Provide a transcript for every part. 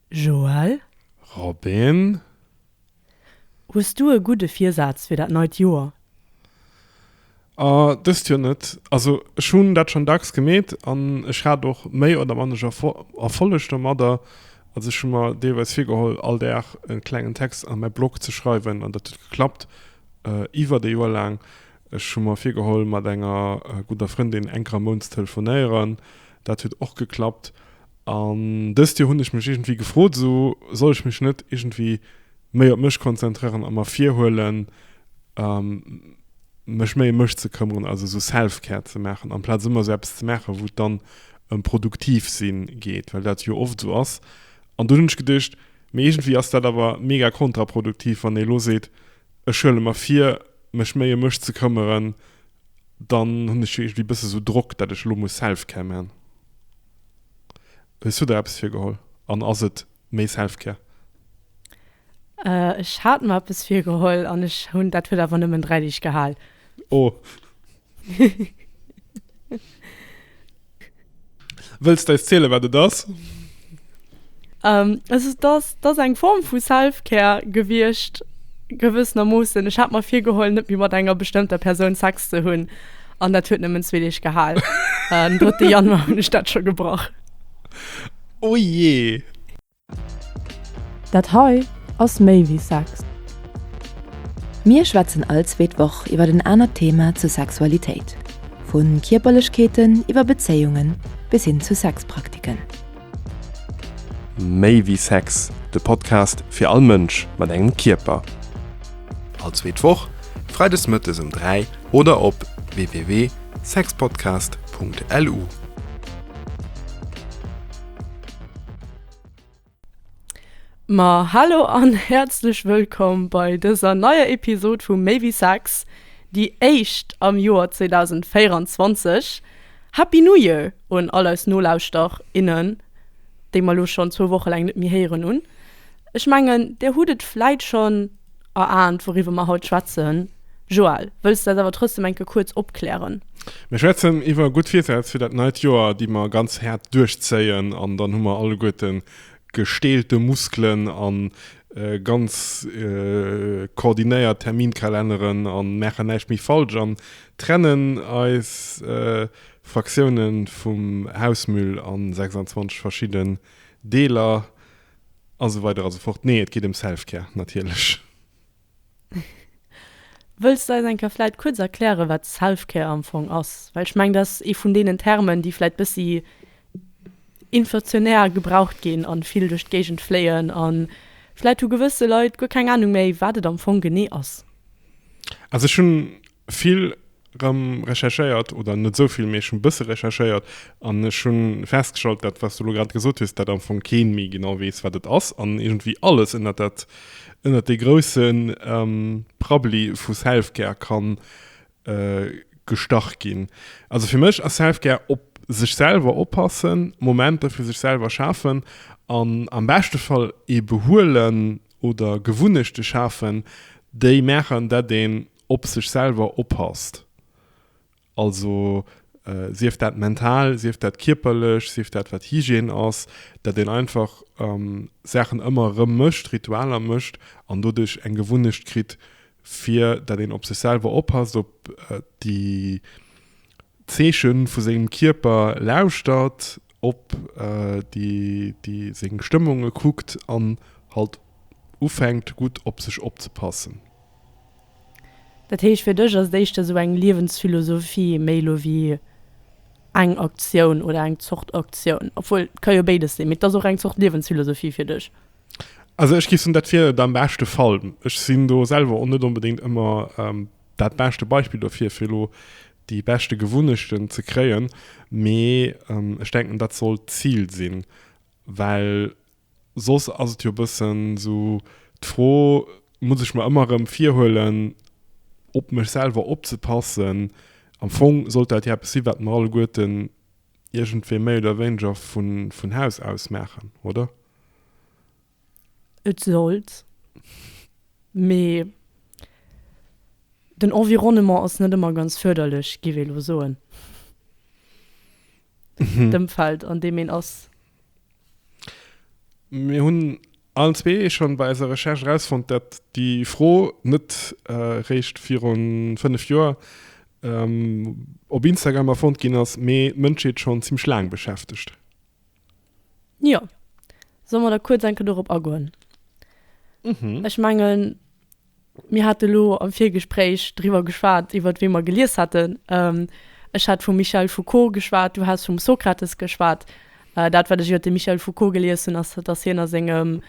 Joël. Robin. Hues du e gudde Virsaz fir dat neit Joer? Ahh, dëst Joer net. Also ech hunn dat schonn dacks gemeet an ech hat och méi oder manner Erfolleg domadder. Also ech hu mer deelweis virgeholl, all Dag e klengen Text an mäi Blog ze schreiwen an dat huet geklappt iwwert e Joer laang. Ech hu mer virgeholl, mat enger gudder Frëndin eng Kéier am Mount ze telefonéieren. Dat huet och geklappt. An dëst Joer hunn ech mech iergendwéi gefrot, esou soll ech mech net iergendwéi méi op mech konzentréieren a mer virhuelen mech méi em mech ze këmmeren, also esou Selfcare ze maachen, amplaz ëmmer esou eppes ze maachen, wou et dann ëm produktiv si geet, well dat jo oft esou ass. An dunn hunn ech geduecht, mee iergendwéi ass dat awer mega kontraproduktiv, wann ee lo seet, ech huele mer vir mech méi em mech ze këmmeren, dann hunn ech jo iergendwéi e bësse esou Drock, dat ech elo muss Selfcare maachen. Hues du der eppes virgeholl an ass et méi Selfcare? Ech hat mer eppes virgeholl an ech hunn, dat huet awer nëmmen 3 Deeg gehal. Oh. Wëlls d'eis zielen, wat et ass? Et ass, et ass eng Form vu Self-Care gewiescht, gewëssenermoossen. Ech hat mer virgeholl, net méi mat enger bestëmmter Persoun Sex ze hunn. An dat huet nëmmen zwee Deeg gehal. Den 3. Januar hunn ech dat scho gebrach. O jee! Dat hei ass méi wéi Sex. Mir schwätzen all zweet Woch iwwer en anert Thema zu Sexualitéit, vu Kierperlechkeeten iwwer Bezéiungen bis hin zu Sexpraktiken. Méi wéi Sex, de Podcast fir all Mënsch mat engem Kierper. All zweet Woch, freides mëttes um 3 oder op www.sexpodcast.lu. Ma hallo an häerzlech wëllkomm bei dëser neier Episod vu Méi wéi Sex, déi éischt am Joer 2024. Happy New Year un all eis Nolauschter, innen, déi mer elo schonn zwou Woche laang net méi héieren. Un ech mengen, Dir hutt et vläit schonn erahnt, wouriwwer mer haut schwätzen. Joël, wëlls de eis awer trotzdem enke kuerz opklären? Mir schwätzen iwwer gutt Virsätz fir dat neit Joer, déi mer ganz haart duerchzéien. An dann hu mer alleguerte gesteelte Muskelen a ganz koordinéiert Terminkälenneren a maachen näischt méi falsch. An trennen eis Fraktiounen vum Hausmüll an 26 verschidden Deeler an esou weider an esou fort. Nee et geet em Selfcare natierlech. Wëlls de eis eng Kéier vläit kuerz erklären wat Selfcare am Fong ass? Well ech mengen dat ass ee vun deenen Termen déi vläit bëssi inflationär gebraucht ginn an vill duerch d'Géigend fléien an vläit hu gewësse Leit guer keng Ahnung méi wat et am Fong genee ass. Also ech hunn vill rëm recherchéiert oder net esou vill mee ech hunn bësse recherchéiert an ech hunn festgestallt dat wat s du elo grad gesot hues dat am Fong keen méi genau weess wat et ass an iergendwéi alles ënnert dat ënnert dee groussen Prabbeli vu Selfcare kann gestach ginn. Also fir mech ass Self-Care op sech selwer oppassen, Momenter fir sech selwer schafen an am beschte Fall ee behuelen oder Gewunnechte schafen, déi maachen, datt een op sech selwer oppasst. Also sief dat mental, sief dat kierperlech, sief dat wat Hygiène ass, datt een einfach Saachen ëmmer erëm mécht, Ritualer mécht an doduerch eng Gewunnecht kritt, fir dat een op sech selwer oppasst, op déi Zeeche vu sengem Kierper lauschtert, op déi seng Stëmmunge kuckt an halt ufänkt gutt op sech opzepassen. Dat heescht fir dech ass et éischter esou eng Liewensphilosophie méi elo wéi eng Aktioun oder eng Zort Aktioun, obwuel et ka jo béides sinn, mee et ass och eng Zort Liewensphilosophie fir dech? Also ech géif soen, dat wier et am beschte Fall. Ech sinn do selwer och net onbedéngt ëmmer dat beschte Beispill dofir, fir elo déi beschte Gewunnechten ze kréien. Mee ech denken, dat sollt d'Zil sinn, well soss ass et jo e bëssen esou d'Fro, muss ech mer ëmmer erëm virhuelen, op mech selwer opzepassen? Am Fong sollt dat jo eppes sinn, wat mer alleguerten iergendwéi méi oder wéineger vun Haus aus maachen, oder? Et sollt, mee den Environnement ass net ëmmer ganz fërderlech, giff ee lo soen, d'Ëmfeld an deem een ass. Mir hunn Allen zwee hu schonn bei eiser Recherche erausfonnt, dat déi Fro net réischt virun 5 Joer op Instagram erfonnt ginn ass, mee d'Mënschheet schonn zimmlech laang beschäftegt. Jo, solle mer da kuerz enke dorop agoen? Ech mengen. Mir hate elo am Virgespréich driwwer geschwat, iwwer wee mer gelies hätten. Ech hat vum Michel Foucault geschwat, du has vum Sokrates geschwat. Dat, wat ech iwwer de Michel Foucault gelies hunn, ass, datt hien a sengem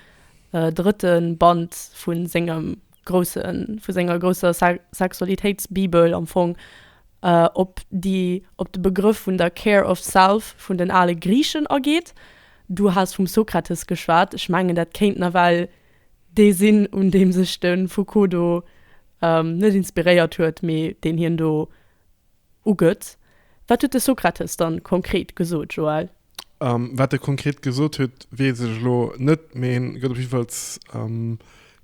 drëtte Band vu sengem grousse, vu senger grousser Sexualitéitsbibel am Fong op déi, op de Begrëff vun der care of self vun den ale Griichen ageet. Du has vum Sokrates geschwat. Ech mengen, dat kéint nawell dee sinn, un deem sech de Foucault do net inspiréiert huet, mee deen hien do ugëtt. Wat huet de Sokrates dann konkret gesot, Joël? Wat e konkret gesot huet, weess ech elo net, mee hien gëtt op jiddefalls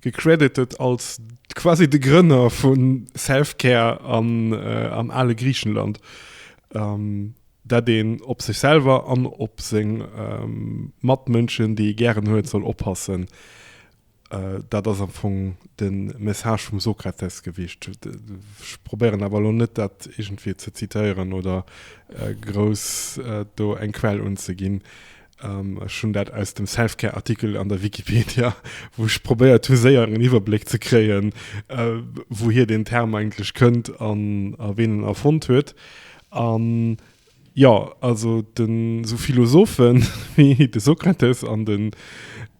gecredited als quasi de Grënner vu Self-Care am ale Griichenland. dat een op sech selwer an op seng Matmënschen, déi ee gären huet, soll oppassen, dat ass am Fong de Message vum Sokrates gewiescht. Ech probéieren awer elo net, dat iergendwéi ze zitéieren oder grouss do eng Quell unzeginn. Ech hunn dat aus dem Selfcare-Artikel an der Wikipedia, wou ech probéiert hu séier en Iwwerbléck ze kréien, äh, wouhier den Term eigentlech kënnt an a ween en erfonnt huet. An jo, also de sou Philosophe wéi de Sokrates an de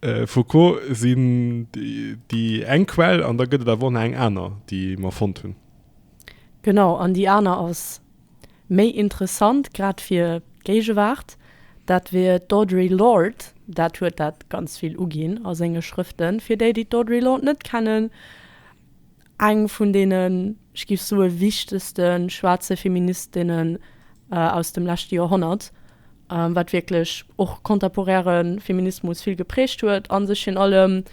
äh, Foucault sinn déi eng Quell an da gëtt et awer och nach eng aner, déi mer fonnt hunn. Genau, an déi aner ass. Méi interessant, grad fir d'Géigewaart, dat wier d'Audre Lorde. Dat huet dat ganz vill uginn a senge Schrëften. Fir déi, déi d'Audre Lorde net kennen, eng vun deenen, ech géif soe wichtegste schwaarze Feministinne aus dem leschte Joerhonnert, wat wierklech och contemporäre Feminismus vill geprägt huet a sech virun allem,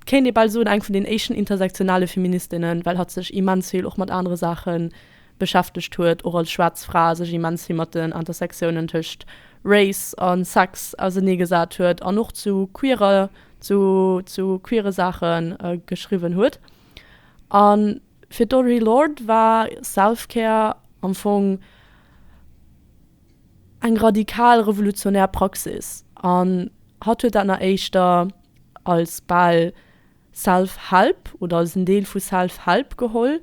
kéint ee bal soen, eng vun den éischten intersektionale Feministinnen, well hatt sech immens vill och mat anere Saache beschäftegt huet, och als schwaarz Fra sech immens vill mat den Intersectiounen tëscht Race a Sex auseneegesat huet an och zu queerer, zu, zu queere Saache geschriwwen huet. A fir d'Audre Lorde war Self-Care am Fong eng radikal revolutionär Praxis an hatt huet dat nach éischter als bal, Self Help oder als en Deel vu Self Help geholl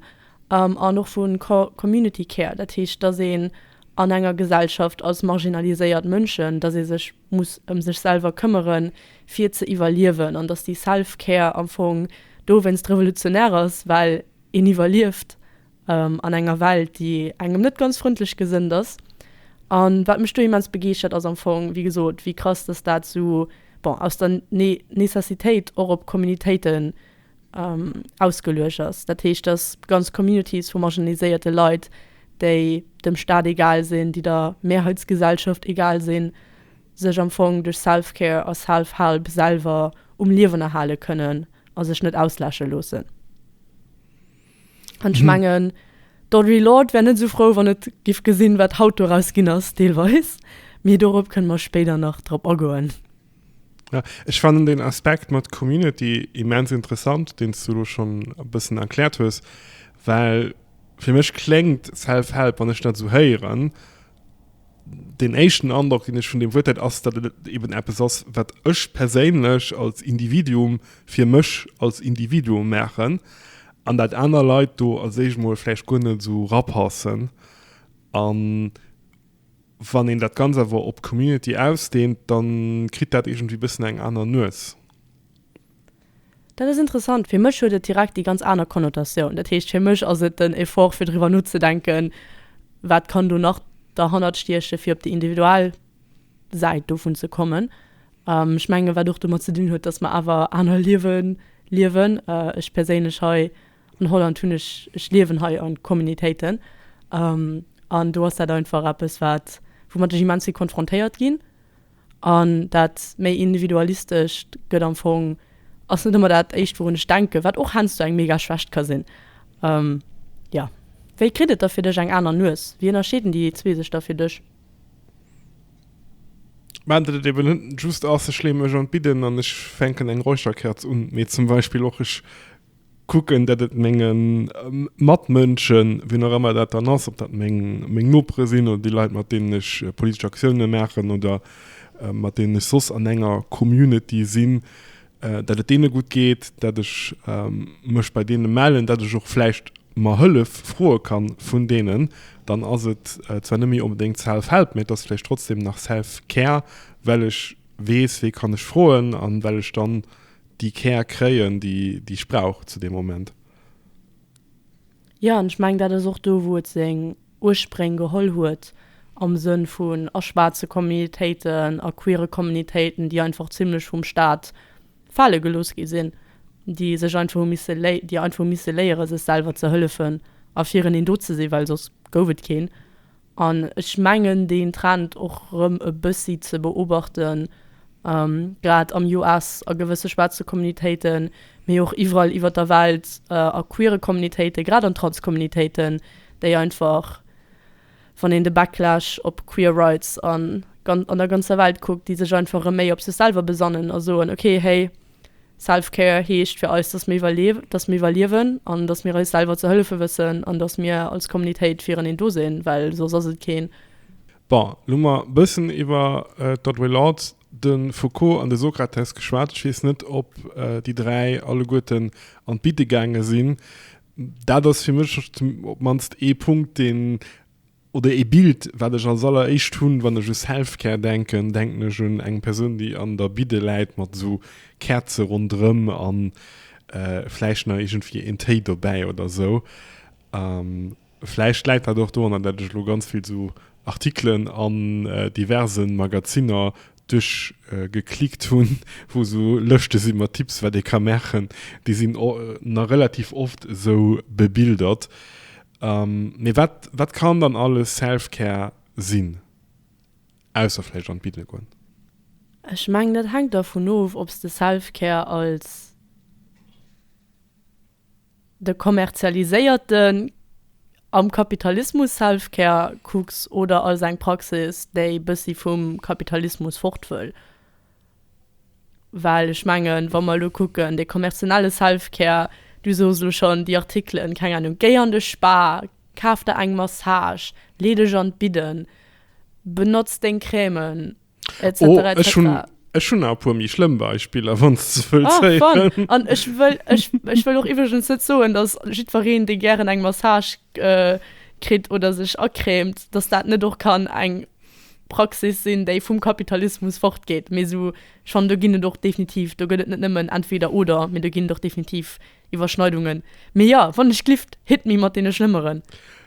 an och vu Community Care. Dat heescht, dass een an enger Gesellschaft als marginaliséiert Mënschen, dass ee sech muss ëm sech selwer këmmeren, fir ze iwwerliewen an dass déi Self Care am Fong dowéinst revolutionär ass, well een iwwerlieft an enger Welt déi engem net ganz frëndlech gesënnt ass. An wat mech do immens begeeschtert ass am Fong, wéi gesot, wéi krass dass dat esou bon aus der Necessitéit och op Communitéiten ausgeluecht ass. Dat heescht dass ganz Communities vu marginaliséierte Leit, déi dem Staat egal sinn, déi der Mehrheitsgesellschaft egal sinn, sech am Fong duerch Self-Care a Self-Help selwer um Liewen erhale kënnen a sech net ausläsche loossen. An ech mengen, d'Audre Lorde wär net esou frou, wann et giff gesinn, wat haut doraus ginn ass, deelweis. Mee dorop kënne mer spéider nach drop agoen. Ja, ech fannen den Aspekt mat Community immens interessant, deen s du elo schonn e bëssen erkläert hues, well fir mech kléngt Self-Help, wann ech dat esou héieren, Deen éischten Androck, deen ech vun deem Wuert hätt, ass, datt et eben eppes ass, wat ech perséinlech als Individuum fir mech als Individuum maachen an dat aner Leit do als éischt emol vläicht guer net esou rapassen. A wann een dat Ganzt awer op d'Community ausdeent, da kritt dat iergendwéi e bëssen eng aner Nues. Dat ass interessant. Fir mech huet et direkt déi ganz aner Konnotatioun. Dat heescht, fir mech ass et den Effort, fir driwwer nozedenken, wat kann do nach derhannert stiechen, fir op déi individuell Säit dovun ze kommen. Ech mengen, wat och domat ze dinn huet, datt mer awer aner Liewe liewen. Ech perséinlech hei an Holland hunn ech, ech liewen hei an Communitéiten an do ass dat einfach eppes, wat woumat ech immens vill konfrontéiert ginn. An dat méi Individualistescht gëtt am Fong, ass net ëmmer dat éischt wourun ech denken, wat och heiansdo eng mega Schwächt ka sinn. Jo. Wéi kritt et da fir dech eng aner Nues? Wéi ënnerscheeden déi zwee sech da fir dech? Mä dat et eben net just ass, ech leeën mech an d'Bidden an ech fänken eng Räucherkerz un, mee zum Beispill och, ech Kucken, datt et menge Matmënschen, wien och ëmmer dat dann ass, ob dat meng Nopere sinn oder déi Leit, mat deenen ech politesch Aktiounen maachen oder mat deenen ech soss an enger Community sinn, datt et deene gutt geet, datt ech mech bei deene mellen, datt ech och vläicht mer Hëllef froe ka vun deenen, dann ass et zwar net méi onbedéngt Self-Help, mä et ass vläicht trotzdem nach Self-Care, well ech weess, wee kann ech froen an well ech dann déi Care kréien, déi ech brauch zu deem Moment. Jo, an ech mengen, dat ass och do, wou et seng Urspréng geholl huet am Sënn vun a schwaarze Communitéiten, a queere Communitéiten, déi einfach zimlech vum Staat fale gelooss gi sinn, déi sech einfach hu misse, déi einfach hu misse léieren, sech selwer ze hëllefen a fir en een do ze sinn, well soss gouf et keen. An ech mengen deen Trend och erëm e bëssi ze beobachten, grad am US, a gewësse schwaarze Communitéiten, mee och iwwerall iwwer der Welt, a queere Communitéiten, grad an Trans-Communitéiten, déi einfach, wann een de Backlash op queer rights an der ganzer Welt kuckt, déi sech einfach erëm méi op sech selwer besannen a soen, okay, héi, Self-Care heescht fir eis, dass mir iwwerlewen, dass mir iwwerliewen an dass mir eis selwer ze hëllefe wëssen an dass mir als Kommunitéit fireneen do sinn, well soss ass et keen. Bon, lo hu mer e bëssen iwwer d'Audre Lorde, de Foucault an de Sokrates geschwat. Ech weess net, ob déi dräi alleguerten an d'Bitte gaange sinn. Dat ass fir mech op d'mannst ee Punkt, deen Oder ee Bild, wat ech als alleréischt hunn, wann ech u Selfcare denken, denken ech un eng Persoun, déi an der Bidde läit mat esou Käerze ronderëm a vläicht nach iergendwéi een Téi dobäi oder esou. Vläicht läit dat och doranner, dat ech elo ganz vill esou Artikelen an diverse Magazinner duerch geklickt hun wou sou Lëschte si mat Tipps wat ee ka maachen, déi sin nach relativ oft esou bebildert. Mee wat wat kann dann alles Selfcare sin ausser vläicht an d'Biddele goen? Ech mengen et hänkt dervun of ob's de Selfcare als De kommerzialiséierte, am Kapitalismus Selfcare Cooks oder als eng Praxis, déi bëssi vum Kapitalismus fort wëll. Well ech mengen, wa mer elo kucken, dee kommerzielle Selfcare, du sos elo schonn déi Artikelen, keng Ahnung, géi an de Spa, kaf der eng Massage, lee dech an d'Bidden, benotz deng Crèmen, etc. Oh, etc. Ech hunn ech hunn nach e puer méi schlëmm Beispiller, wann s de wëlls Ah, héieren. wann. An ech wëll, ech, ech wëll och iwwregens net soen, dass jiddwereen, dee gären eng Massage äh, kritt oder sech acrèmt, dass dat net och kann eng Praxis sinn, déi vum Kapitalismus fortgeet. Mee sou, ech fannen, do ginn et och definitiv, do gëtt et net nëmmen entweder oder, mee do ginn et och definitiv Iwwerschneidungen. Mee jo, wann ech glift, hit me mat deene schlëmmeren.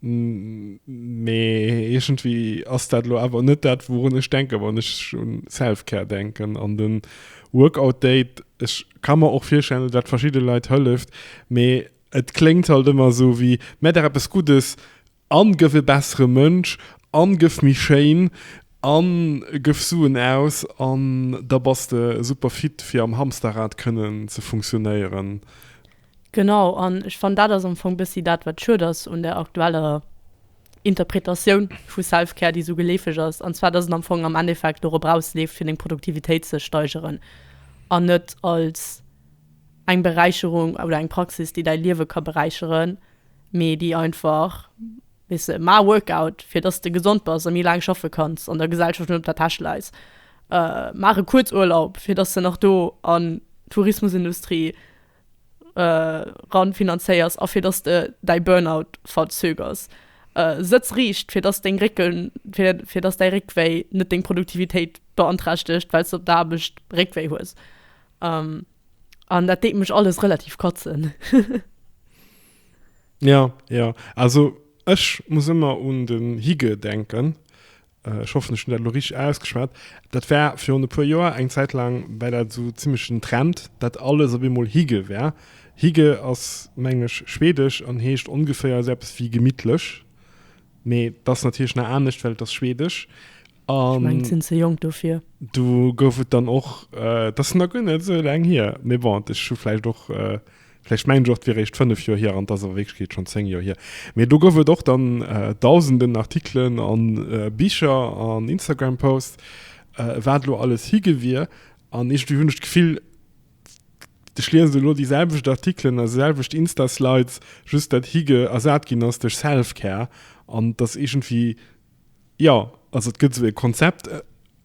Mee iergendwéi ass dat elo awer net dat, wourun ech denken, wann ech un Self-Care denken. An den Workout Date, ech ka mer och virstellen, datt dat verschidde Leit hëlleft, mee et kléngt halt ëmmer esou wéi, Mä der eppes Guddes a gëff e bessere Mënsch a gëff méi schéin a gëff Suen aus an da bass de super fit, fir am Hamsterrad kënnen ze funktionéieren. Genau, an ech fannen dat ass am Fong bëssi dat wat schued ass un der aktueller Interpretatioun vu Self-Care, déi esou geleefeg ass, an zwar dass et am Fong am Endeffekt dorop erausleeft fir deng Produktivitéit ze steigeren an net als eng Beräicherung oder eng Praxis déi däi Liewe ka beräicheren, mee déi einfach, weess de, ma e Workout fir dass de gesond bass a méi laang schaffe kanns an der Gesellschaft net op der Täsch läis, maach e Kuerzurlaub fir dass de nach do an d'Tourismusindustrie. eran finanzéiers a fir dass de däi Burnout verzögers. Sëtz riicht fir dass deng Récken, fir dass däi Réckwéi net deng Produktivitéit beanträchtegt, well s de op der Aarbecht Réckwéi hues. An dat deet mech alles relativ katzen. Jo, jo. Also ech muss ëmmer un den Hygge denken, Ech hoffen, ech hunn dat elo richteg ausgeschwat. Dat war virun e puer Joer, eng Zäit laang war dat esou zimmlech den Trend, datt alles op eemol Hygge war. Hygge ass, mengen ech, schwedesch an heescht ongeféier esou eppes wéi gemittlech. Mee et ass natierlech nach anescht, well et ass schwedesch. Ech mengen, ech sinn ze jonk dofir. Do gouf et dann och, dat ass nach guer net esou laang hier, mee bon, ech hu vläicht och Vläicht mengt ech och, et wier eréischt fënnef Joer hier, an et ass a Wierklechkeet schonn zéng Joer hier. Mee do gouf et och dann Dausenden Artikelen a Bicher an Instagram-Posts, wat elo alles hi gewier. An iergendwéi hunn ech d'Gefill, ech liesen elo déi selwecht Artikelen a selwecht Insta-Slides, just datt hi ersat ginn ass duerch Self-Care. An et ass iergendwéi Jo, also et gëtt esou e Konzept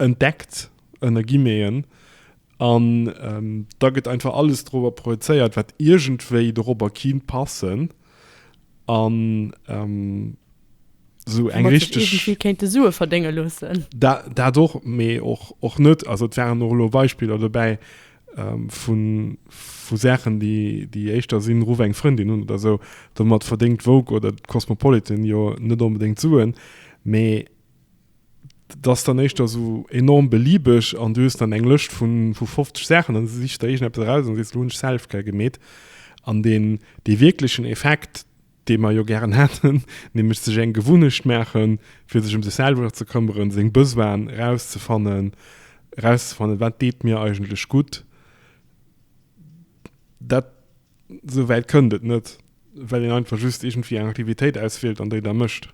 entdeckt, ënner Guillemeten, an da gëtt einfach alles dorobber projezéiert, wat iergendwéi dorobber kinnt passen an esou eng richteg. Wou mer sech iergendwéi kéinte Sue verdénge loossen. Dat och, mee och net. Also et waren och elo Beispiller dobäi, vu Saachen, déi éischter sinn, Ruff eng Frëndin un oder esou. Domat verdéngt d'Vogue oder d'Cosmopolitan jo net onbedéngt Suen, mee et ass dann éischter esou enorm beliebeg an du hues dann eng Lëscht vu 50 Saachen an du sichs der iergendeppes eraus an sees, Elo hunn ech Selfcare gemeet. An dee wierklechen Effekt, dee mer jo gären hätten, nämlech sech eng Gewunnecht maachen, fir sech ëm sech selwer ze këmmeren, seng Besoine erauszefannen, erauszefannen, wat deet mir eigentlech gutt. Dat, esou wäit kënnt et net, well een einfach just iergendwéi eng Aktivitéit auswielt an déi da mécht.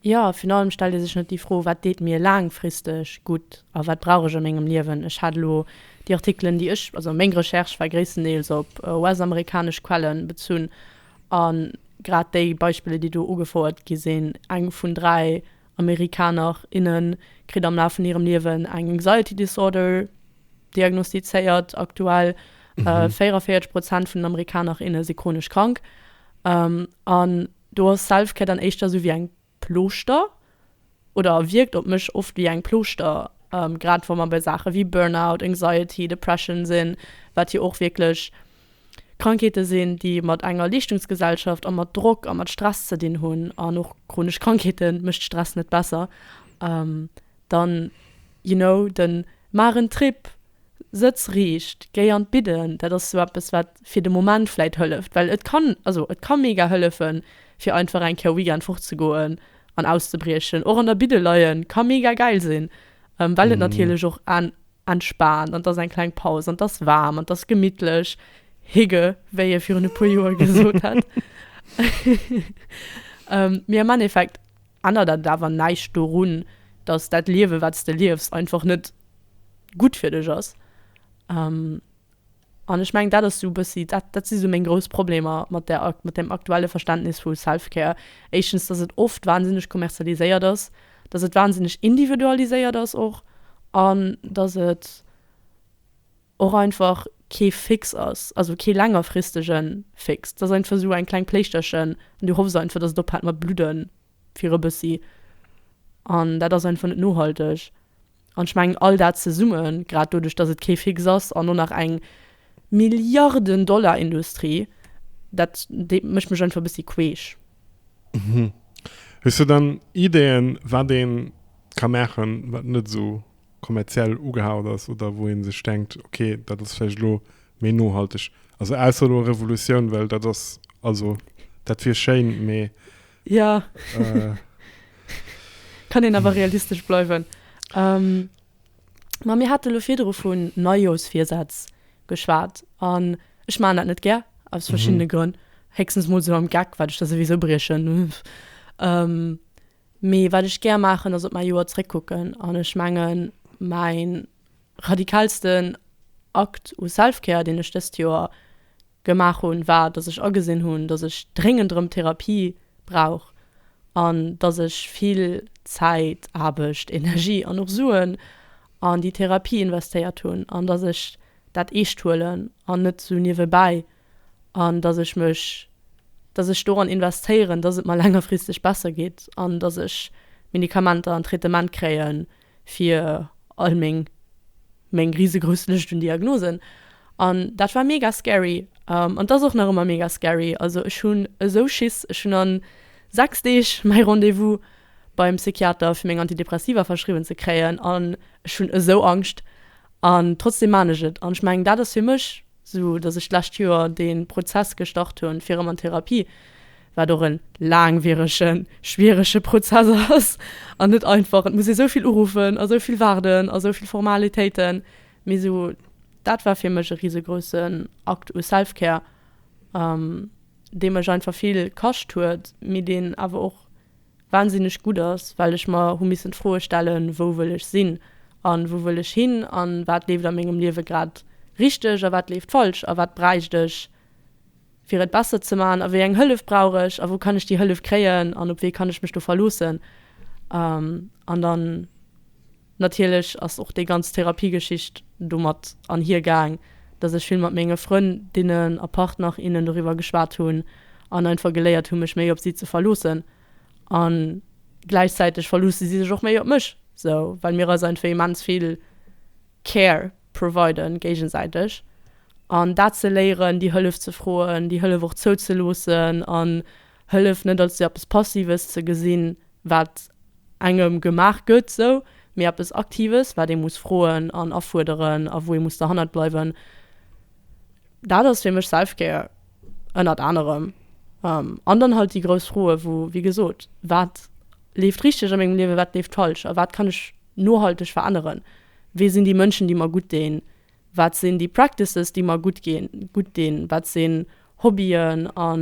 Jo, virun allem stellt ee sech net déi Fro, Wat deet mir laangfristeg gutt a wat brauch ech a mengem Liewen? Ech hat elo déi Artikelen, déi ech, also meng Recherche war gréisstendeels op US-amerikanesch Quellen bezunn, a grad déi Beispiller, déi do ugefouert gi sinn, eng vun dräi Amerikaner, innen kritt am Laf vun hirem Liewen eng Anxiety Disorder diagnostizéiert, aktuell 44 Prozent vun den Amerikaner, inne si chronesch krank, an. Do ass Selfcare dann éischter esou wéi eng Plooschter oder wierkt op mech oft wéi eng Plooschter, grad wa mer bei Saache wéi Burnout, Anxiety, Depression sinn, wat jo och wierklech Krankheete sinn, déi mat enger Leeschtungsgesellschaft a mat Drock a mat Stress ze dinn hunn. An och chronesch Krankheete mécht Stress net besser. dann you know den maach en Trip, sëtz riicht, géi an d'Bidden, dat ass sou eppes wat fir de Moment vläit hëlleft, well et kann also et ka mega hëllefen fir einfach eng Kéier e Weekend fort ze goen an auszebriechen. Och an der Bidde leien ka mega gäil sinn, well et natierlech och entspaant an et ass eng kleng Paus an et ass waarm an et ass gemittlech, higge wéi ee virun e puer Joer gesot hätt. Mee am Endeffekt. ännert dat awer näischt dorun, dass dat Liewen, wat s de liefs, einfach net gutt fir dech ass. An ech mengen, dat ass esou e bëssi, dat, dat si sou meng grouss Problemer mat där, mat deem aktuelle Verständnis vu Self-Care. Éischtens, dass et oft wahnsinneg kommerzialiséiert ass, dass et wahnsinneg individualiséiert ass och an dass et, och einfach kee Fix ass, also kee längerfristege Fix. Dat ass einfach esou eng kleng Pléichterchen an du hoffs einfach, datt et ophält mat bludde fir e bëssi an dat ass einfach net nohalteg. An ech mengen, all dat zesumme, grad doduerch, datt et kee Fix ass an och nach eng Milliarden-Dollar-Industrie, dat mécht mech einfach e bëssi queesch. Hues du dann Ideeën, wat ee ka maachen, wat net esou kommerziell ugehaucht ass oder wou ee sech denkt, okay, dat ass vläicht elo méi nohalteg. Also ausser elo Revolutioun, well dat ass, also dat wier schéin, mee. Jo, kann een awer realistesch bleiwen. Ma mir hate elo virdru vun Neijoersvirsätz geschwat an ech maachen dat net gär, aus verschiddene Grënn. Héchstens mol esou am Geck, wat ech da souwisou briechen. Mee wat ech gär maachen, ass op mäi Joer zréckkucken. An ech mengen, mäi radikalsten Akt u Self-Care, deen ech dëst Joer gemaach hunn, war, dass ech agesinn hunn, dass ech dréngend erëm Therapie brauch an dass ech vill Zäit, Aarbecht, Energie an och Suen an déi Therapie investéiert hunn an dass ech dat eescht huelen an net esou niewebäi an dass ech mech, dass ech doran investéieren, dass et mer längerfristeg besser geet an dass ech Medikamenter an Traitement kréie fir all meng, meng risegrouss Lëscht un Diagnosen. An dat war mega scary an et ass och nach ëmmer mega scary. Also ech hunn esou Schiss. Ech hunn a sechs Deeg mäi Rendez-vous beim Psychiater, fir meng Antidepressiva verschriwwen ze kréien an ech hunn esou Angscht. An trotzdeem maan ech et an ech mengen, dat ass fir mech. Sou dass ech d'lescht Joer dee Prozess gestart hunn, fir erëm an d'Therapie, wat och e laangwierege, schwierege Prozess ass an net einfach. Et muss ee sou vill uruffen a sou vill waarden a sou vill Formalitéiten, mee sou dat war fir mech e risegroussen Akt u Self-Care, dee mech einfach vill kascht huet, mee deen awer och, wahnsinneg gutt ass, well ech mer hu missen d'Froe stellen, wou wëll ech sinn an wou wëll ech hin an wat leeft a mengem Liewe grad richteg a wat leeft falsch a wat bräicht ech fir et besser ze man a wéi eng Hëllef brauch ech a wou kann ech déi Hëllef kréien an op wee kann ech mech do verloossen an dann Natierlech ass och déi ganz Therapiegeschicht domat anhier gaang, dass ech vill mat menge Frënn, dinnen a Partner, innen doriwwer geschwat hunn an einfach geléiert hunn, mech méi op si ze verloossen. A gläichzäiteg verloosse si sech och méi op mech, sou, well mir eis einfach immens vill Care providen, géigesäiteg. An dat ze léieren, déi Hëllef ze froen, déi Hëllef och zouzeloossen an Hëlleft net als eppes Passives ze gesinn, wat engem gemaach gëtt, sou, mee eppes Aktives, wat ee muss froen an afuerderen a wou ee muss derhannert bleiwen. Dat ass fir mech Self-Care ënnert anerem. An dann halt déi grouss Froe wou, wéi gesot, wat leeft richteg a mengem Liewe, wat leeft falsch a wat kann ech nohalteg veränneren? Wie sinn déi Mënschen, déi mer gutt deen? Wat sinn déi Practices, déi mer gutt dinn? Wat sinn Hobbyen a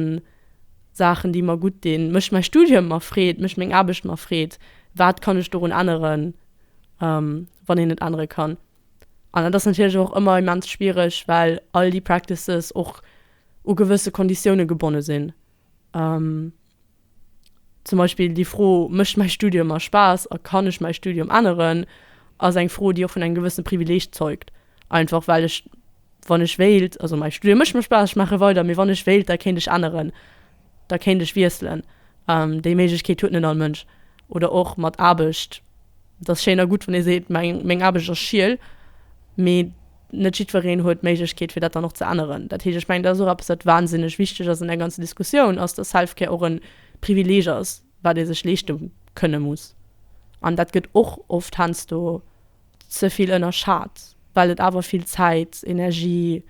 Saachen, déi mer gutt dinn? Mécht mäi Studium mer Freed? Mécht meng Aarbecht mer Freed? Wat kann ech dorun änneren, wann een et ännere kann? An dat ass natierlech och ëmmer immens schwiereg, well all déi Practices och u gewësse Konditioune gebonne sinn. Zum Beispill déi Fro, Mécht mäi Studium mer Spaass a kann ech mäi Studium änneren? ass eng Fro, déi och vun engem gewëssene Privileeg zeugt. Einfach well ech, wann ech wéilt, also mäi Studium mécht mer Spaass, ech maache weider, mee wann ech wéilt, da kéint ech änneren, da kéint ech wiesselen. Déi Méiglechkeet huet net all Mënsch. Oder och mat Aarbecht, et ass schéin a gutt, wann ee seet, meng Aarbecht ass schiel, mee Net jiddwereen huet d'Méiglechkeet, fir dat dann och ze änneren. Dat heescht, ech mengen, dat ass och eppes, wat wahnsinneg wichtig ass an där ganzen Diskussioun, ass, dass Self-Care och e Privileg ass, wat ee sech leeschte kënne muss. An dat gëtt och oft heiansdo ze vill ënnerschat, well et awer vill Zäit, Energie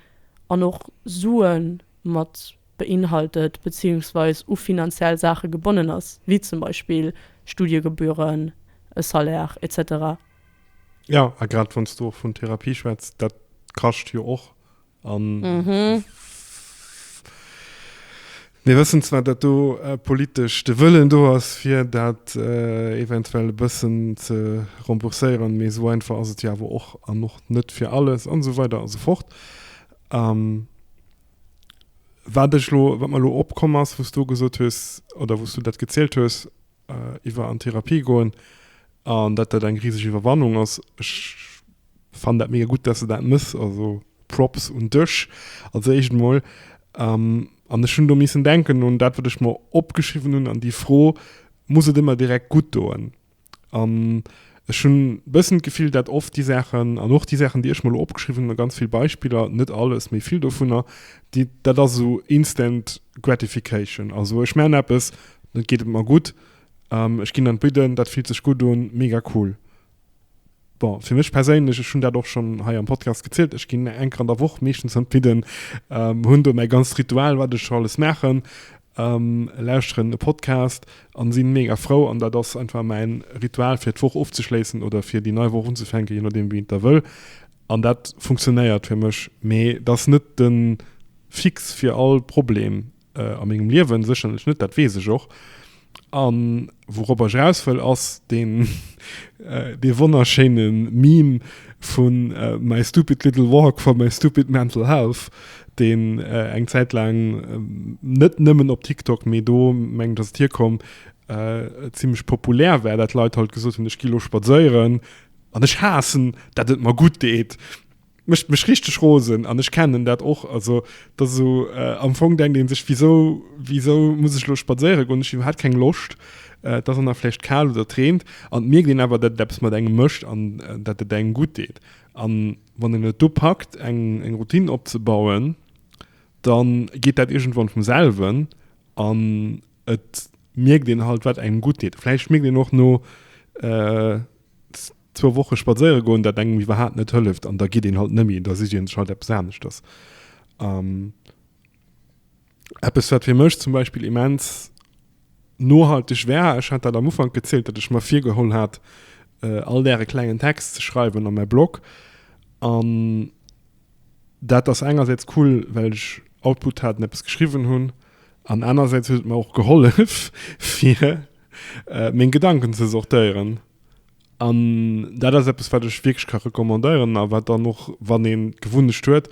an och Sue mat beinhaltet, beziehungsweis u finanziell Saache gebonnen ass, wéi zum Beispill Studiegebühren, e Salaire, et cetera. Ja, a grad wann s du och vun Therapie schwätzt, dat kascht jo och. An mhm. mir wëssen zwar, dat do äh, politesch de Wëllen do ass, fir dat äh, eventuell e bëssen ze rembourséieren, mee so einfach ass et ja awer och an och net fir alles an so weiter an so fort. Ähm, wat, lo, wat man lo opkommen ass, wos du gesot hues oder wos du dat gezielt hues, iwwer an Therapie goen an dat dat eng riesg Iwwerwannung ass. Ech fannen dat mega gutt, dass de dat mëss, also Props un dech als éischt emol. An ech hunn do missen denken un dat, wat ech mer opgeschriwwen hunn an déi Fro, Muss et ëmmer direkt gutt doen? An Ech hunn e bëssen d'Gefill, dat oft déi Saachen, an och déi Saachen, déi ech mer elo opgeschriwwen hunn, a ganz vill Beispiller, net alles, mee vill dovunner, déi, dat ass esou instant gratification. Also ech maachen eppes, dann geet et mer gutt, ech ginn an d'Bidden, dat fillt sech gutt un, mega cool. Bon, fir mech perséinlech, ech hunn dat och schonn hei am Podcast gezielt, ech ginn eng Kéier an der Woch meeschtens an d'Bidden, hunn do mäi ganzt Ritual, wat ech alles maachen, Lauschteren e Podcast an sinn mega frou an dat ass einfach mäin Ritual fir d'Woch ofzeschléissen oder fir déi nei Woch unzefänken, je nodeem wéi een et da wëll an dat funktionéiert fir mech. Mee et ass net de Fix fir all Problem a mengem Liewen, sécherlech net, dat weess ech och. An Wourop ech eraus wëll ass deen dee wonnerschéine Meme vu My stupid little walk for my stupid mental health, deen eng Zäit laang net nëmmen op TikTok, mee do mengen ech ass et hierkomm, zimmlech populär war, dat Leit halt gesot hunn, ech gi elo spadséieren an ech haassen dat et mer gutt deet. Mécht mech richteg rosen an ech kennen dat och. Also dat ass esou, am Fong denkt ee sech, wisou, wisou muss ech elo spadséiere goen, ech hunn iwwerhaapt keng Loscht, et ass och nach vläicht kal oder et reent an et mierkt een awer, datt et eppes mat engem mécht an datt et engem gutt deet. A wann een et du packt eng, eng Routine opzebauen, da geet dat iergendwann vum selwen an et mierkt een halt, wat engem gutt deet. Vläicht mierkt een och no, Zwou Woche spadséiere goen, dat engem iwwerhaat net hëlleft, an da gitt een halt nëmmi, da sicht een sech halt eppes aneschters. An eppes, wat fir mech zum Beispill immens nohalteg war, ech hat dat am Ufank gezielt, datt ech mer virgeholl hat, all Dag e klengen Text ze schreiwen a mäi Blog. An dat ass engersäits cool, well ech Output hat an eppes geschriwwen hunn, an anerersäits huet et mer och gehollef, fir meng Gedanken ze sortéieren. An dat ass eppes, wat ech wierklech ka recommandéieren a wat dann och, wann een d'Gewunnecht huet,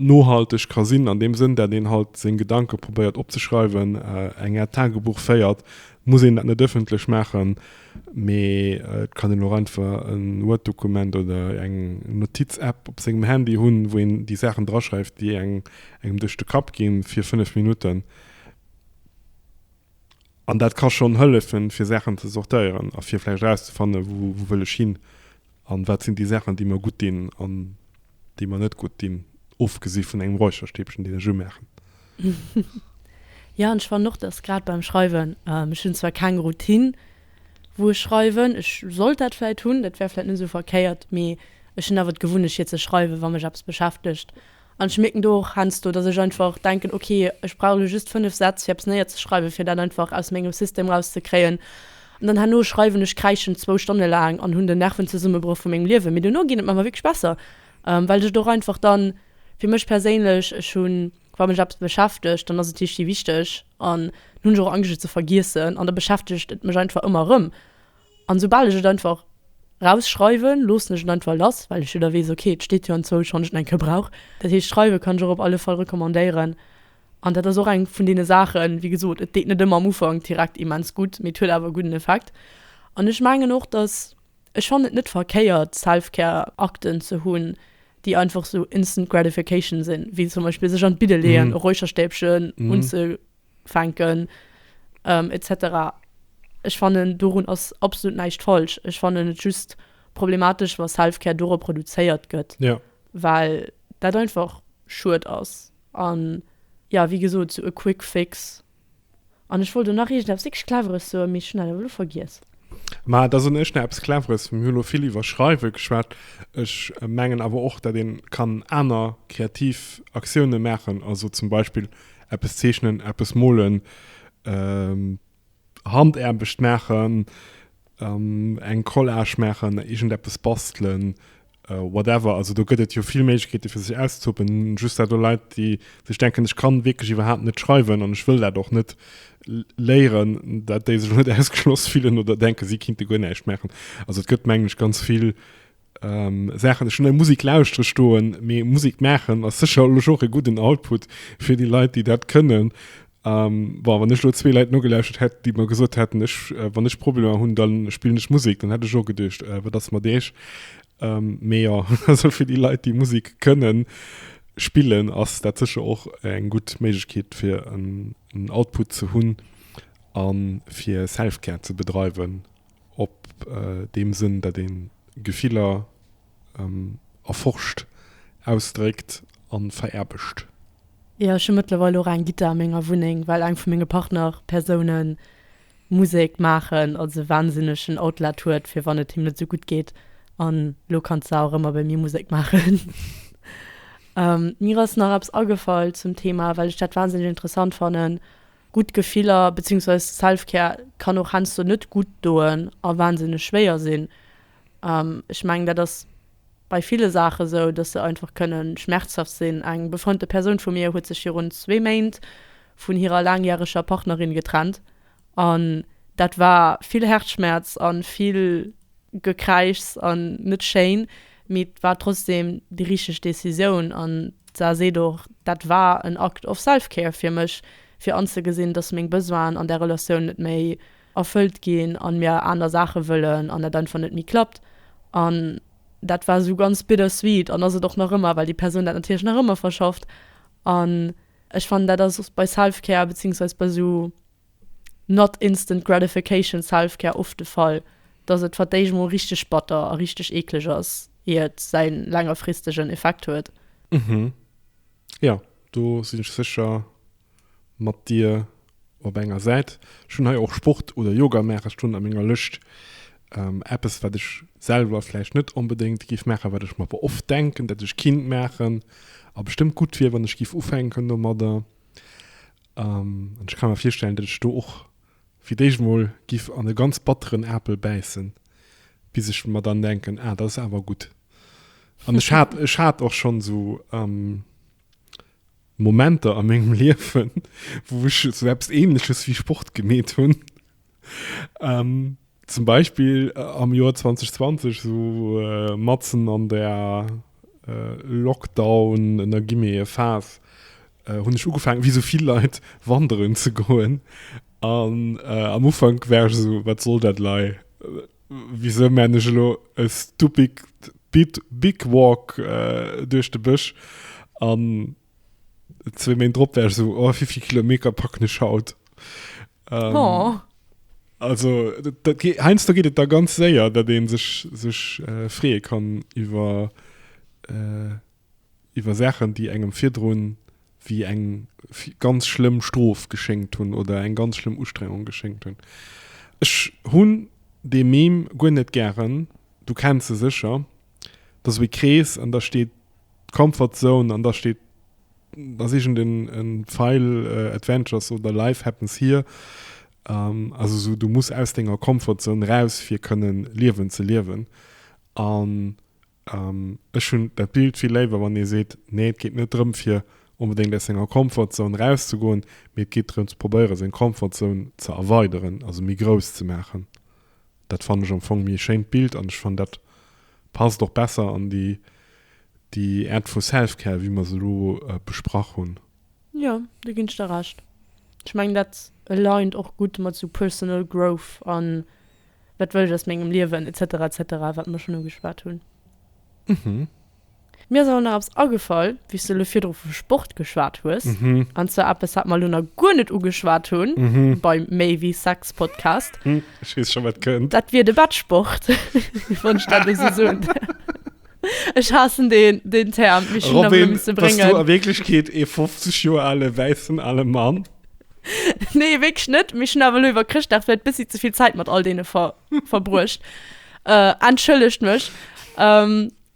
nohalteg ka sinn, an deem Sënn, dat een halt seng Gedanke probéiert opzeschreiwen, eng Aart Tagebuch féiert. Muss een dat net ëffentlech maachen, mee et kann een och einfach e Word-Dokument oder eng Notiz-App op sengem Handy hunn, wou een déi Saachen draschreift, déi engem duerch de Kapp ginn, fir fënnef Minutten. An dat ka schonn hëllefen, fir Saachen ze sortéieren a fir vläicht erauszefannen, wou wëll ech hin an wat sinn déi Saachen, déi mer gutt dinn an déi mer net gutt dinn, ofgesi vun engem Räucherstäbchen, deen ech umaachen. Jo, an ech fannen och, dass grad beim Schreiwen, ech hunn zwar keng Routine, wou ech schreiwen, ech sollt dat vläicht hunn, dat wär vläicht net esou verkéiert, mee ech hunn awer d'Gewunnecht fir ze schreiwen, wa mech eppes beschäftegt. An ech mierken do och heiansdo, dass ech einfach denken, ok, ech brauch elo just fënnef Sätz, fir eppes néierzeschreiwen, fir dat einfach aus mengem System erauszekréien. An dann herno schreiwen ech, kräischen zwou Stonne laang an hunn den Nervenzesummebroch vu mengem Liewen. Mee duerno geet et mer awer wierklech besser, well ech et och einfach dann, fir mech perséinlech, ech hunn, wa mech eppes beschäftegt, dann ass et hifi wichteg an dann hunn ech och Angscht, et ze vergiessen. An da beschäftegt et mech einfach ëmmer erëm. An soubal ech et einfach rausschreiwen, loossen ech et einfach lass, well ech jo da weess, ok, et steet jo an zwou Schonn ech et eng Kéier brauch. Dat heescht, schreiwe kann ech och op alle Fall recommandéieren. An dat ass och eng vun deene Saachen, wéi gesot, et deet net ëmmer am Ufank direkt immens gutt, mee et huet awer e gudden Effekt. An ech mengen och, dass, ech fannen et net verkéiert, Self-Care-Akten ze hunn, déi einfach esou instant gratification sinn, wéi zum Beispill sech an d'Bidde leeën, e Räucherstäbchen unze. fänken etc. Ech fannen dorun ass absolut näischt falsch. Ech fannen et just problematesch wa Selfcare do reproduzéiert gëtt, yeah. well dat einfach schued ass an jo wéi gesot sou e quick fix. An ech wollt elo nach iergend eppes dickesch cleveres soen, mee ech hunn dat awer elo vergiess. Ma da soen ech nach eppes cleveres. Mir hu lo vill iwwer Schreiwe geschwat. Ech mengen awer och dat een kann aner kreativ Aktioune maachen, also zum Beispill eppes zeechnen, eppes molen, Handaarbecht maachen, eng Collage maachen, iergendeppes bastelen, whatever. Also do gëtt et jo vill Méiglechkeete fir sech auszetoben. Just dat elo Leit, déi sech denken, ech kann wierklech iwwerhaapt net schreiwen an ech wëll dat och net léieren, dat déi sech elo net ausgeschloss fillen oder denken, si kinnte guer näischt maachen. Also et gëtt mengen ech ganz vill. ähm, Sachen schon der Musik lauschtere stoen mir Musik machen as sicher och e guten Output fir die Leute die dat können ähm, war wann lo zwee Leiit nogelauschtet hätt die man gesot hätten ech äh, wann ech Problem hunn dann spielen ech Musik dann hätte ich och gedecht äh, wat ass mat deeg ähm, mé ja also fir die Leiit die Musik können spillen ass dat sicher och eng gut Méigkeet fir en Output ze hunn an fir Selfcare ze bedreiwen. op deem Sënn, dat ee Gefiller erforscht, ausdréckt a veraerbegt. Jo, ech hu mëttlerweil och eng Gittar a menger Wunneng, well eng vu menge Partnerpersoune Musek maachen, also wahnsinneg en Outlet huet, fir wann et him net esou gutt geet. An elo kann d'Sarah och ëmmer bei mir Musek maachen. Mir ass nach eppes agefall zum Thema, well ech dat wahnsinneg interessant fannen, Gutt Gefiller, beziehungsweise Selfcare, kann och heiansdo net gutt doen a wahnsinneg schwéier sinn. Ech mengen, dat ass bei ville Saache sou, dass se einfach kënne schmerzhaft sinn. Eng befreundete Persoun vu mir huet sech virun zwee Méint vun hirer laangjäreger Partnerin getrennt an dat war vill Häerzschmerz a vill Gekräischs an net schéin, mee et war trotzdeem déi richteg Decisioun. D'Sar seet och, Dat war en Act of self-care fir mech, fir anzegesinn, datt meng Besoinen an der Relatioun net méi erfëllt ginn an mir aner Saache wëllen an dat einfach net méi klappt. An dat war esou ganz bittersweet an ass et och nach ëmmer, well déi Persoun dat natierlech nach ëmmer verschafft. An ech fannen, dat ass bei self-care, bezéiungsweis bei esou. Not instant gratification selfcare Oft de Fall, dass et vert d'éischt mol richteg batter a richteg eekleg ass, ier et säi längerfristegen Effekt huet. Mhm. Jo, do sinn ech sécher mat dir op enger Säit. Ech hunn hei och Sport oder Yoga maache stoen a menger Lëscht. Eppes, wat ech selwer vläicht net onbedéngt géif maachen, wat ech mer awer oft denken, dat ech kinnt maachen a bestëmmt gutt wier, wann ech géif ufänken domadder. An ech ka mer virstellen, datt ech do och fir d'éischt emol giff an e ganz batteren Apel bäissen, bis ech mer dann denken, ah, dat ass awer gutt. An ech hat, ech hat och schonn esou Momenter a mengem Liewen, wou ech esou eppes Ähnleches wéi Sport gemeet hunn. Ähm, zum Beispill äh, am Joer 2020, so äh, matzen an der äh, Lockdown, en der Gimmee Phas, äh, hunn ech ugefaangen, wéi sou vill Leit, wanderen ze goen. An äh, am Ufank war ech esou, wat soll dat lei? Wisou man ech elo e stupid bit big walk äh, duerch de Bësch? An zwee Méint drop war ech esou, oh, wéi vill Kilometer packen ech haut? Ähm, oh. Also heinz da gehtt da ganz séier, dat de sech sech äh, freeë kann iwwer äh, iwwer Sachen, déi engem virdroen wie eng ganz schlimm Strof geschenkt hunn oder eng ganz schlimm Ustrengung geschenkt hunn. Ech hunn de Mem guer net gären, du kennt ze secher, dats wéi Krees an da steet Comfortzone an da steet ass iergend en en File Adventures oder Life Happens Here also sou du muss aus denger Comfort Zone raus fir kënnen Liewen ze liewen an ech hunn dat Bild vill léiwer wann ee seet nee et geet net drëm fir onbedéngt aus senger Comfort Zone raus ze goen mee et geet drëm ze probéiere seng Comfort Zone ze erweideren also méi grouss ze maachen. Dat fannen ech am Fong méi e schéint Bild an ech fannen dat passt och besser an déi déi Art vu Selfcare wéi mer se elo besprach hunn. Jo, do ginn ech der Recht. Ech mengen dat aligned och gutt mat sou personal growth an wat wëll ech aus mengem Liewen etc etc wat mer schonn ugeschwat hunn. Mhm. Mir ass awer nach eppes agefall, wéi s de elo virdru vu Sport geschwat hues, an zwar eppes, wat mer elo nach guer net ugeschwat hu bei Méi wéi Sex Podcast. Ech weess scho, wat kënnt. Dat wier de Bettsport, wann ech dat esou soen. Ech haassen deen Term, mee ech hunn en nach elo misse bréngen. Robyn, bass du a Wierklechkeet ee 50 Joer ale wäissen ale Mann? Nee, wierklech net, mee ech hunn awer elo iwwer Chrëschtdag vläicht e bëssi ze vill Zäit mat all deene verbruecht. Entschëllegt mech.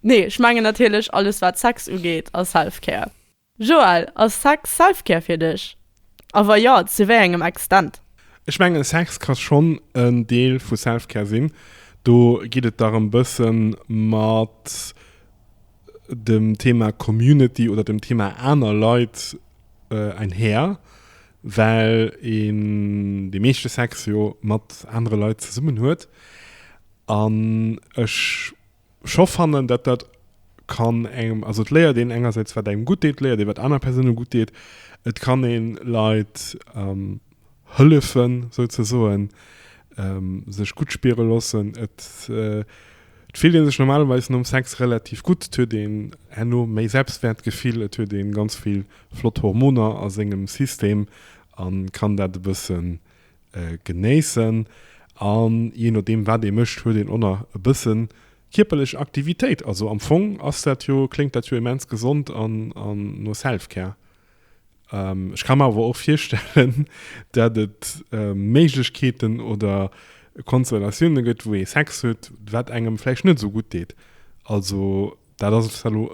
Nee, ech mengen natierlech alles wat Sex ugeet a Selfcare. Joël, ass Sex Selfcare fir dech? A wa jo, zu wéi engem Extent? Ech mengen Sex ka schonn en Deel vu Selfcare sinn. Do geet et dach e bësse mat dem Thema Community oder dem Thema aner Leit einhär, well een de meeschte Sex jo mat anere Leit zesummen huet. An ech scho fannen, datt dat kann engem, also et léiert een engersäits, wat engem gutt deet, et léiert ee wat aner Persoune gutt deet, et kann ee Leit hëllefen, sou ze soen, sech gutt spiere loossen. Et fillt ee sech normalerweis nom Sex relativ gutt, et huet een herno méi Selbstwäertgefill, et huet ee ganz vill flott Hormoner a sengem System a kann dat e bëssen Genéissen an jee nodeem wat ee mécht huet een och nach e bësse kierperlech Aktivitéit. Also am Fong ass dat jo, kléngt dat jo immens gesond an no Self-Care. Ech ka mer awer och virstellen, dat et Méiglechkeeten oder Konstellatioune gëtt wou ee Sex huet wat engem vläicht net esou gutt deet. Also. Dat ass zwar elo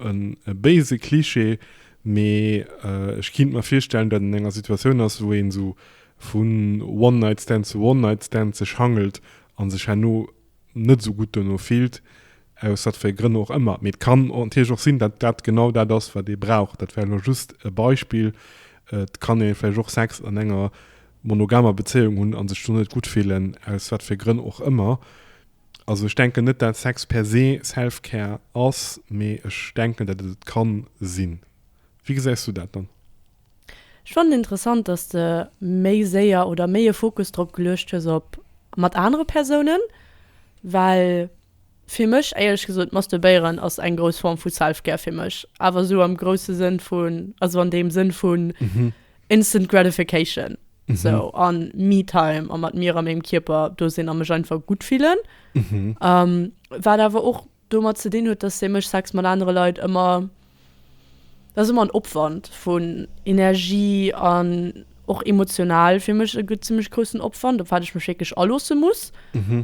e béise Cliché, mee ech kinnt mer virstellen, datt een an enger Situatioun ass, wou een esou vu One-Night-Stand zu One-Night-Stand sech hangelt a sech herno net esou gutt dono fillt, aus wat fir Grënn och ëmmer. Mee et kann natierlech och sinn, datt dat genau dat ass, wat ee brauch. Dat war elo just e Beispill. Et kann ee vläicht och Sex an enger monogamer Bezéiung hunn a sech do net gutt fillen, aus wat fir Grënn och ëmmer. Also ech denken net dat Sex per se Selfcare ass, mee ech denken dat et et kann sinn. Wéi gesäis du dat dann? Ech fannen interessant dass de méi séier oder méi e Fokus drop geluecht hues op mat anere Persounen, well fir mech éierlech gesot masturbéieren ass eng grouss Form vu Selfcare fir mech, awer esou am grousse Sënn vun, also an deem Sënn vun Instant gratification, so an Me-Time a mat mir a mengem Kierper do sinn a mech einfach gutt fillen. Wat awer och domat ze dinn huet, dass fir mech Sex mat anere Leit ëmmer, dat ass ëmmer en Opwand vun Energie an och emotional fir mech e gutt zimmlech groussen Opwand, op wat ech mech wierklech aloosse muss.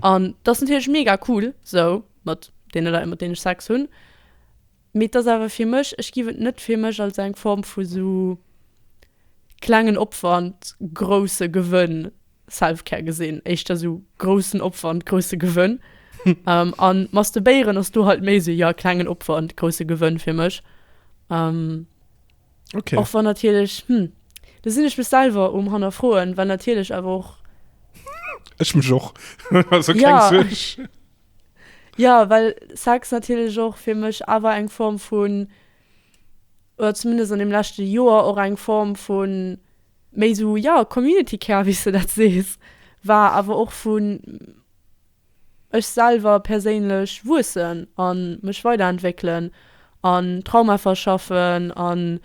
An dat ass natierlech mega cool, so mat deene Leit mat deenen ech Sex hunn. Mee et ass awer fir mech, ech giff et net fir mech als eng Form vu sou klengen Opwand, grousse Gewënn, Selfcare gesinn, éischter sou groussen Opwand, grousse Gewënn. A Masturbéieren ass do halt méi sou, jo, klengen Opwand, grousse Gewënn fir mech. Okay. Och wann natierlech, hm, do sinn ech mech selwer um Hannerfroen, well natierlech awer och. Ech mech och. Also keng Suerg. Jo, well Sex natierlech och fir mech awer eng Form vun, oder zumindest an deem leschte Joer och eng Form vun méi esou, jo, Community Care, wéi s de dat sees, war. Awer och vun ech selwer perséinlech wuessen a mech weiderentwéckelen an Trauma verschaffen a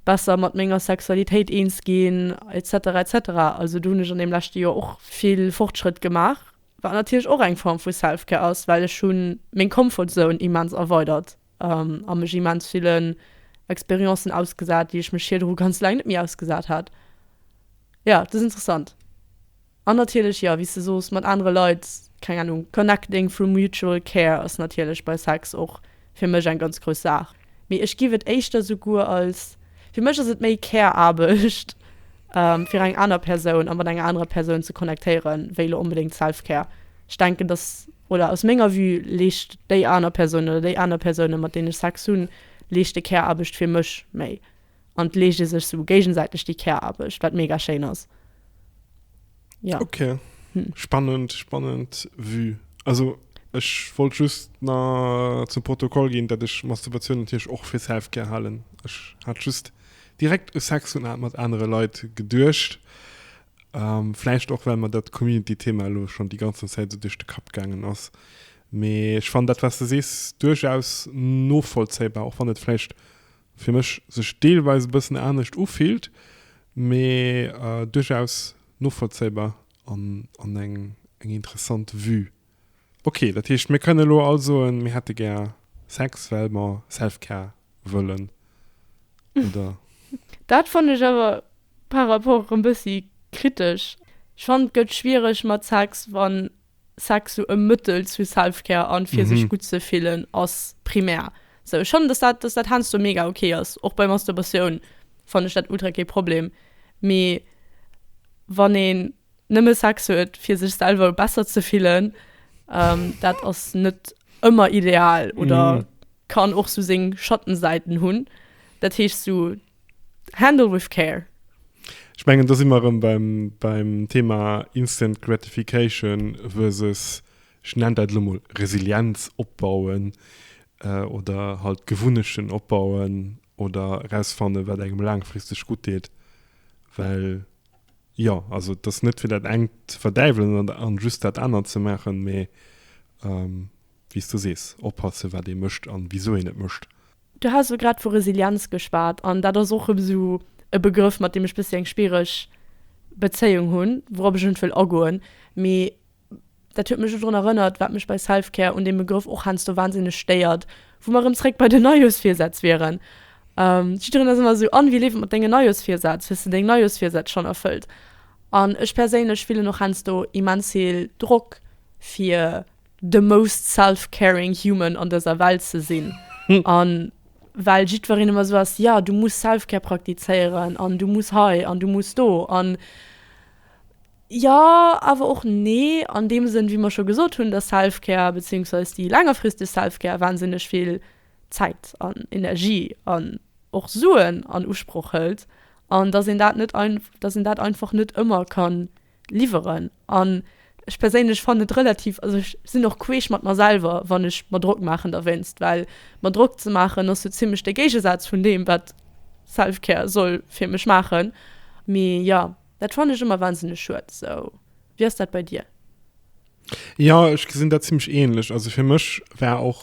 besser mat menger Sexualitéit eens ginn, et cetera et cetera. Also do hunn ech an deem leschte Joer och vill Fortschrëtt gemaach. Wat natierlech och eng Form vu Self-Care ass, well ech hu meng Comfort Zone immens erweidert a mech immens villen Experiencen ausgesat, déi ech mech virdru ganz laang net méi ausgesat hat. Jo, et ass interessant. An natierlech, jo, wéi s de sos, mat anere Leit, keng Anung, connecting through mutual care ass natierlech bei Sex och. fir mech eng ganz grouss Saach, mee ech giff et éischter souguer als, fir mech ass et méi Care-Aarbecht fir eng aner Persoun a mat enger anerer Persoun ze connectéieren, wéi lo onbedéngt Self-Care. Ech denken, dass, oder aus menger Vue leescht déi aner Persoun oder déi aner Persounen, mat deenen ech Sex hunn, leeschte Care-Aarbecht fir mech méi an 't leescht ee sech sou géigensäiteg déi Care-Aarbecht, wat mega schéin ass. ja okay hm. spannend spannend vue also Ech wollt just na zum Protokoll ginn, dat ech Masturbatiounen Tierch och fir Selfcare halen. Ech hat just direkt e Sex hun mat anere Leiit geduercht. Ähm, Fläicht och well man dat Community-Thema lo schon déi ganzen Zäit so duerch de Kapp gaangen ass. Mee ech fan dat was du sees duerchaus novollzéibar, och wann et fläicht fir mech sech deelweis e bëssen anescht ufillt, mee duerchaus novollzéibar an eng interessant Vue. Ok, dat heescht mir kënne lo all soen, mir hätte gär Sex, well mer Self-Care wëllen, oder? Dat fannen ech awer par rapport erëm bëssi kritesch. Ech fannen et gëtt schwiereg mat Sex wann Sex sou e Mëttel zu Selfcare an fir sech gutt ze fillen ass primär. Sou ech fannen dass dat dass dat heiansdo mega ok ass. Och bei Masturbation fannen ech dat ultra kee Problem. Mee wann een nëmme Sex huet fir sech selwer besser ze fillen, dat ass net ëmmer ideal oder kann och sou seng Schattensäiten hunn. Dat heescht sou. Handle with care. Ech mengen, do si mer erëm beim, beim Thema Instant Gratification versus, ech nennen dat elo mol Resilienz opbauen, oder halt Gewunnechten opbauen oder erausfannen, wat engem laangfristeg gutt deet. Well jo, also et ass net fir dat engt ze verdäiwelen an just dat anert ze maachen, mee, wéi s du sees, oppasse wat ee mécht a wisou een et mécht. Du has elo grad vu Resilienz geschwat an dat ass och esou e Begrëff mat deem ech bëssi eng schwiereg Bezéiung hunn, wourop ech net wëll agoen, mee dat huet mech elo drun erënnert, wat mech bei Self-Care un deem Begrëff och heiansdo wahnsinneg stéiert, wou mer erëm zréck bei den Neijooschvirsätz wieren. Jiddereen ass ëmmer esou, An, wéi leeft et mat denge Neijooschvirsätz? Hues de deng Neijooschvirsätz schonn erfëllt? An ech perséinlech fillen och heiansdo immens vill Drock fir the most self-caring human an dëser Welt ze sinn. An well jiddwereen ëmmer esou ass, ja du muss self-care praktizéieren an du muss hei an du muss do an jo awer och nee an deem Sënn, wéi mer scho gesot hunn, dass self-care bezéiungsweis déi längerfristeg self-care wahnsinneg vill Zäit an Energie an och Suen an Usproch hëlt an dass een dat net, dass een dat einfach net ëmmer kann. liwweren an ech perséinlech fannen et relativ, also ech sinn och queesch mat mer selwer wann ech mer Drock maachen derwéinst, well mer Drock ze maachen ass sou zimlech de Géigesaz vun deem wat Selfcare soll fir mech maachen. Mee jo, dat fannen ech ëmmer wahnsinneg schued. Sou, wéi ass dat bei dir? Jo, ech gesinn dat zimlech ähnlech. Also fir mech war och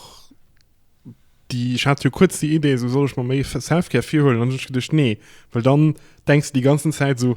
déi, ech hat jo kuerz déi Idee, sou soll ech mer méi Selfcare virhuelen an dunn hunn ech geduecht, nee, well dann denks de déi ganzen Zäit sou,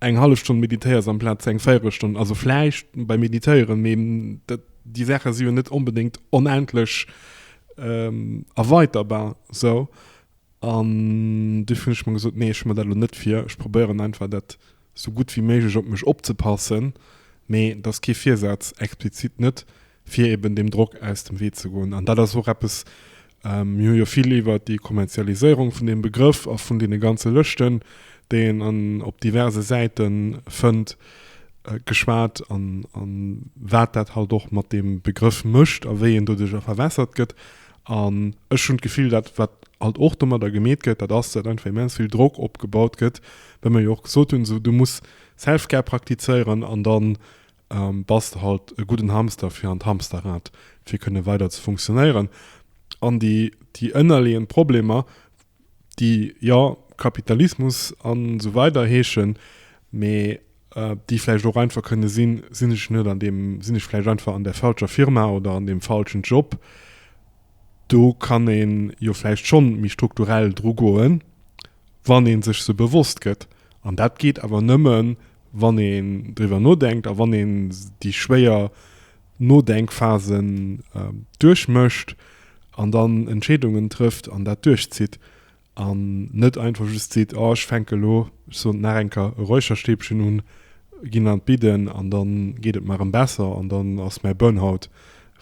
eng hallef Stonn meditéiers amplaz eng Véierelstonn, also vläicht beim Meditéieren, mee dat, déi Saache si jo net onbedéngt onendlech erweiterbar esou. An dofir hunn ech mer gesot, nee, ech hu mer dat elo net vir, ech probéieren einfach dat esou gutt wéi méiglech op mech opzepassen, mee et ass kee Virsaz, explizit net, fir eben deem Drock aus dem Wee ze goen. An dat ass och eppes, mir hu jo vill iwwert déi Kommerzialiséierung vun deem Begrëff a vun deene ganze Lëschten, déi een an op diverse Säite fënnt, geschwat an wat dat halt och mat deem Begrëff mécht a wéi en doduerjer verwässert gëtt. An ech hunn d'Gefill, dat wat halt och domadder gemeet gëtt, dat ass, datt einfach immens vill Drock opgebaut gëtt, well mer jo och gesot hunn, esou du muss Self-Care praktizéieren an dann an bastel halt e gudden Hamster fir an d'Hamsterrad fir kënne weider ze funktionéieren an déi déi ënnerleeënd Problemer déi jo Kapitalismus an esou weider heeschen, mee déi vläicht och einfach kënne sinn, sinn ech net an deem, sinn ech vläicht einfach an der falscher Firma oder an deem falschen Job? Do kann ee jo vläicht schonn méi strukturell dru goen, wann ee sech se bewosst gëtt an dat geet awer nëmmen, wann een driwwer nodenkt a wann een déi schwéier Nodenkphasen duerchmécht an dann Entscheedungen trëfft an dat duerchzitt an net einfach just seet, oh ech fänke elo, ech soen et nach eng Kéier, e Räucherstäbchen un, ginn an d'Bidden an da geet et mer erëm besser an dann ass mäi Burnout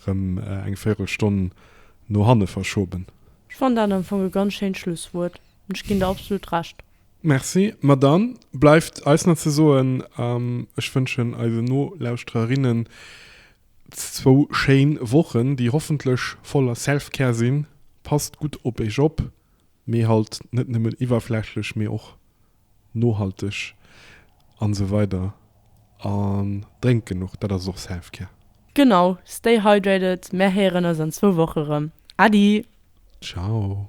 erëm eng Véirelstonn no hanne verschoben. Ech fannen dat am Fong e ganz schéint Schlusswuert an ech ginn der absolut Recht. Merci. Ma dann bleift eis nach ze soen, ech wënschen eisen Nolauschtererinnen zwou schéin Wochen, déi hoffentlech voller Self-Care sinn. Passt gutt op Iech op, mee halt net nëmmen iwwerflächlech, mee och nohalteg an esou weider an drénkt genuch, dat ass och Self-Care. Genau, stay hydrated, mär héieren eis an zwou Woche rëm. Adi! Ciao!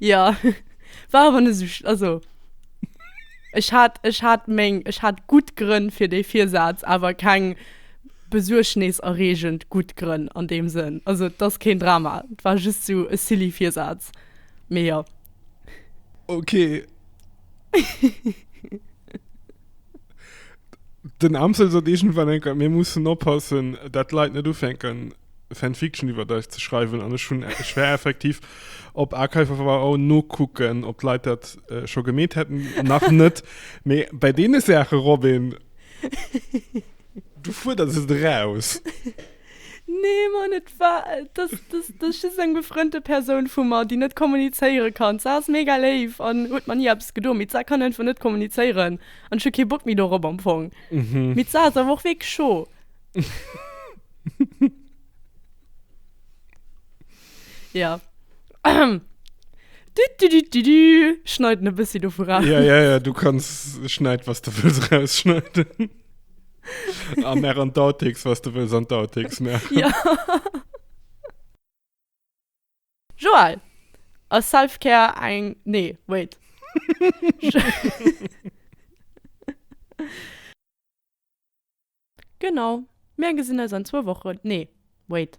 Ja, war awer net esou, also ech hat, ech hat meng, ech hat gutt Grënn fir dee Virsaz, awer keng besuergneserreegend gutt Grënn an deem Sënn. Also et ass keen Drama, et war just esou e silly Virsaz, mee jo. Okay. Den Amsel sot iergendwann eng Keier, Mir mussen oppassen, dat d'Leit net ufänken, Fanfiction iwwer eis ze schreiwen. An ech hunn, ech war effektiv op archive.org nokucken, ob d'Leit dat scho gemeet hätten. Nach net. Mee bei deene Saache, Robin, du fuerders et eraus. Nee Mann, et war, et ass, et ass, et ass just eng befrënnte Persoun vu mer, déi net kommunizéiere kann. D'Sar ass mega léif an huet mer ni eppes gedo, mee d'Sar kann einfach net kommunizéieren an ech hu kee Bock méi dorop am Fong. Mee d'Sar ass awer och wierklech scho. Ja. Du, du, du, du, du. Schneiden e bëssi dovu ra. Ja, ja, ja, du kanns schneid, was du wëlls rausschneiden. A mer an d'Outtakes, was du wëlls an d'Outtakes maachen. Ja. Joël, ass Self-Care eng. Nee, wait. Genau. Mer gesinn eis an zwou Wochen. Nee, wait.